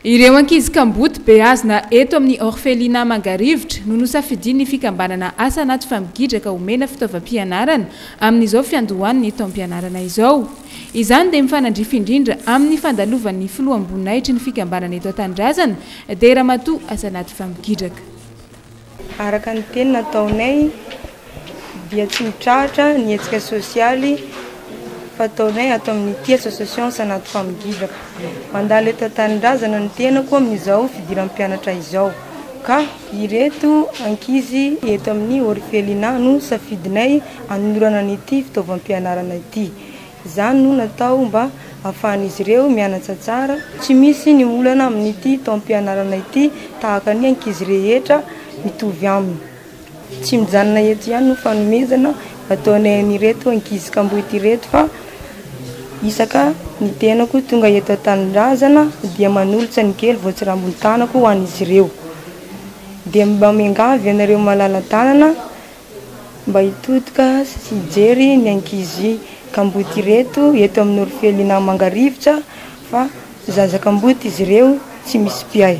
Ireo ankizy kamboty beazina eto amin'ny Orphelinat Mangarivotra no nosafidian'ny fikambanana Asa Anaty Fampigidraka homena fitaovam-pianarana amin'izao fiandohan'ny taom-pianarana izao. Izany dia mifanandrify indrindra amin'ny fandalovan'ny filoham-boninahitry ny fikambanana eto an-tanindrazana dia Ramatoa Asa Anaty Fampigidraka. Araka ny teny nataonay dia tsy mitrahatra ny hetsika sosialy fataonay ato amin'ny ity association Sanato Famogidraka. Mandalo eto an-tanindrazana ny tenako amin'izao fidiram-pianatra izao ka ireto ankizy eto amin'ny orphelinat no safidinay hanolorana an'ity fitaovam-pianarana ity. Izany no natao mba hahafahan'izy ireo mianatra tsara. Tsy misy ny olana amin'ity taom-pianarana ity tahaka ny ankizy rehetra mitovy aminy. Tsy mijanona eto ihany no fanomezana ataonay an'ireto ankizy kamboty ireto fa isaka ny tenako tonga eto an-tanindrazana dia manolotra ny kely voatsirambin-tanako ho an'izy ireo. Dia mba miangavy anareo malala-tanana Mba hitodika sy hijery ny ankizy kamboty ireto eto amin'ny Orifelina Mangarivotra fa zaza kamboty izy ireo tsy misy mpiahy.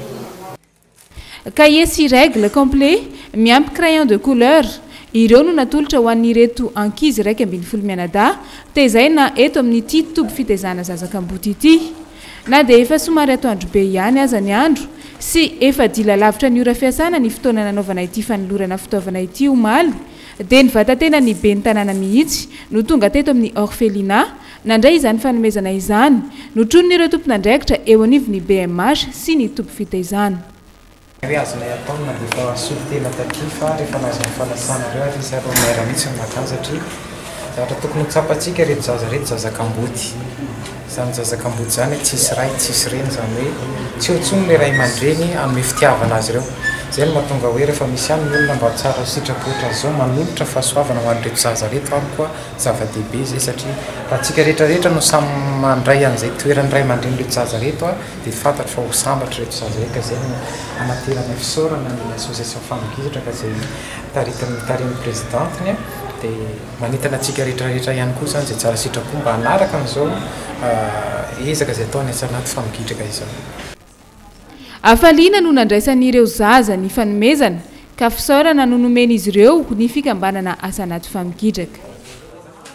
Cahier sy règle complet miampy crayon de couleur, ireo no natolotra ho an'ireto ankizy iraika ambin'ny folo mianadahy tezaina eto amin'ity toby fitaizana zaza kamboty ity. Na dia efa somary atoandro be ihany aza ny andro sy efa dila lavitra ny ora fiasana ny fotoana nanaovana ity fanolorana fitaovana ity omaly dia ny vatatenan'ny ben'ny tanàna mihitsy no tonga teto amin'ny Orphelinat nandray izany fanomezana izany notronin'ireo tompon'andraikitra eo anivon'ny bmh sy ny toby fitaizana Ary azonay atao na dia efa nisolo tena taty fa rehefa nahazo ny fanasana avy eo ary izy ary vao mihaira mihitsy ny makà satria zavatra tokony ho tsapantsika ireto zaza ireto zaza kamboty izany zaza kamboty izany tsisy ray tsisy reny izany hoe tsy eo intsony ilay ray aman-dreny hanome fitiavana azy ireo izay no mahatonga hoe rehefa misy ihany ny olona mba tsara sitrapo ohatra an'izao manolotra fahasoavana ho an'ireto zaza ireto ary koa zava-dehibe izay satria raha antsika rehetra rehetra no samy mandray an'izay toeran'ny ray aman-drenin'ireto zaza ireto Dia fantatro fa ho sambatra ireto zaza ireto ka izay no hanateranay fisaorana ny association Femme Gidraka izay taritin'ny tarihin'ny Presidentiny dia manentana antsika rehetra rehetra ihany koa izany izay tsara sitrapo mba hanaraka an'izao ezaka izay ataon'ny Assanat Femme Gidraka izao. Hafaliana no nandraisan'ireo zaza ny fanomezana ka fisaorana no nomen'izy ireo ny fikambanana Assanat Femme Gidraka.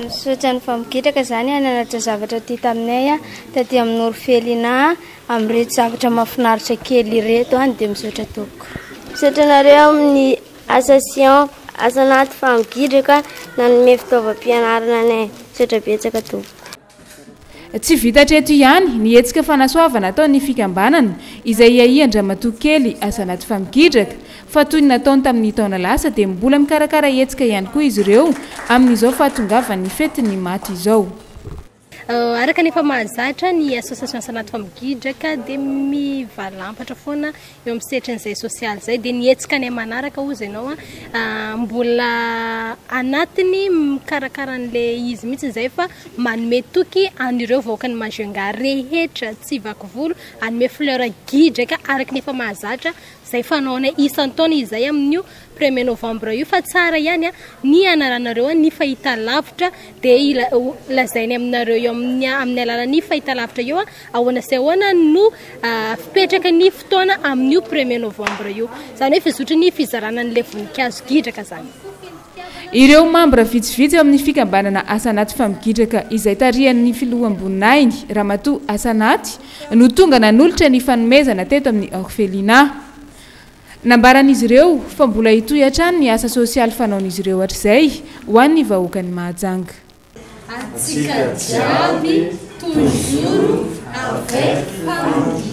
Misaotra ny vamogitraka za niananatra zavatra ty taminay a taty amin'ny norofelina amin'ireto zavatra mafinaritra kely ireto a dia misaotra tompoko. Misaotra anareo amin'ny association Asa Anaty Famogidraka nanome fitaovam-pianarana anay. Misaotra betsaka tompoko. Tsy vita hatreto ihany ny hetsika fanasoavana ataon'ny fikambanana izay iahian-dramatoa Kelly Azanaty Famigidraka fa toy ny nataony tamin'ny taona lasa dia mbola mikarakara hetsika ihany koa izy ireo amin'izao fahatongavan'ny fetin'ny maty izao. Araka ny efa mahazatra, ny Association Azanaty Famigidraka dia mivalampatra foana eo amin'ny setrin'izay sosialy izay dia ny hetsika any manaraka hozy ianao an mbola anatiny mikarakara an'ilay izy mihitsy izay fa manome toky an'ireo vahoaka ny Majunga rehetra tsy vaky volo hanome fleur gidraka araka ny efa mahazatra izay fanaonay isan-taona izay amin'io Premier novembre io fa tsara ihany ny hanaranareo ny fahitalavitra dia lazainy aminareo eo amin'ny alalan'ny fahitalavitra eo ahoana sy ahoana no fipetraka ny fotoana amin'io premier novembre io izany hoe fizotry ny fizarana an'ilay voninkazo gidraka izany Ireo mambra vitsivitsy amin'ny fikambanana Asanaty Famigidraka izay tarihan'ny filoham-boninahiny Ramatoa Asanaty no tonga nanolotra ny fanomezana teto amin'ny Orphelinat. Nambaran'izy ireo fa mbola hitohy hatrany ny asa sosialy fanaon'izy ireo hatrizay ho an'ny vahoakan'i Mahajanga. Antsika jiaby toujours avec Mpaminany.